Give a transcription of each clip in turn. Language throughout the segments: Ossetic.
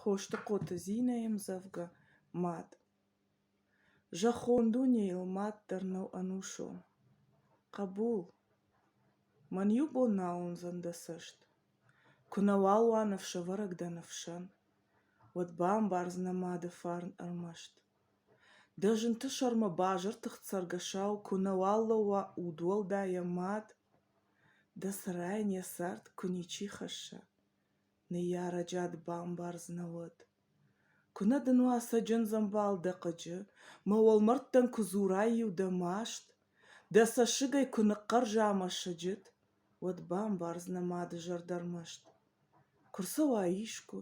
Хостыхъоты Зинӕйы мдзӕвгӕ «Мад». Зӕххон дунейыл мад дӕр нӕу ӕнусон. Хъӕбул, мӕн иу бон нал уындзӕн дӕ цӕст. Куы нӕ уал уа ныфсӕвӕрӕг дӕ ныфсӕн, уӕд бамбардзынӕ мады фарн ӕрмӕст. Дӕ зынты сӕрмӕ базыртыхт цӕргӕсау куы нӕ уал лӕууа удуӕлдай йӕ мад, дӕ сӕрӕй не цард куы ничи хӕсса. Ныййарӕджад бамбардзынӕ уӕд. Куынӕ дын уа цӕджындзӕмбал дӕ хъыджы, мӕ уӕлмӕрдтӕн куы дзурай-иу дӕ маст, дӕ цӕссыгӕй куы ныхъхъӕрза мӕ сыджыт, уӕд бамбардзынӕ мады зӕрдӕ рмӕст. Куы рцӕуа искуы,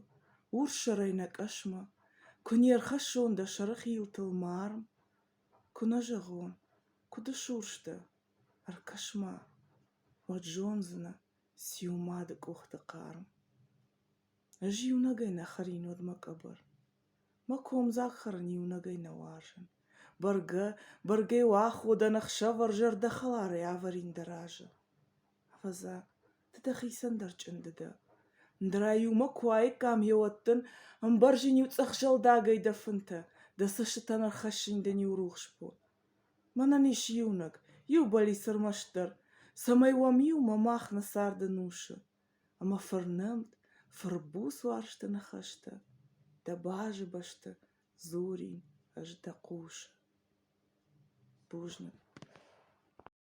урссӕрӕй нӕ къӕсмӕ, куы не рхӕссон дӕ сӕры хилтыл марм, куы нӕ зӕгъон, куыд ысурс дӕ, ӕркӕс-ма, уӕд зондзынӕ. Циу мады къухты хъарм? Ӕз иунӕгӕй нӕ хӕрин уӕд мӕ къӕбӕр. Мӕ комдзаг хӕрын иунӕгӕй нӕ уарзын. Бӕргӕ, бӕргӕ иу аходӕн ӕхсӕвӕр зӕрдӕхӕларӕй ӕвӕрин дӕ разы. Ӕвӕдза, ды дӕхицӕн дӕр чъынды дӕ. Ӕндӕра-иу мӕ куы уаиккам йеуӕддӕн, ӕмбӕрзин иу цъӕх зӕлдагӕй дӕ фынтӕ, дӕ цӕстытӕн ӕрхӕссын дын иу рухс бон. Мӕнӕн ис иунӕг, иу бӕллиц ӕрмӕстдӕр, цӕмӕй уӕм иумӕ мах нӕ царды нусы ӕмӕ фырнӕмт, фырбуц уарзты ныхӕстӕ, дӕ базы бӕсты дзурин ӕз дӕ хъусы. Бузныг.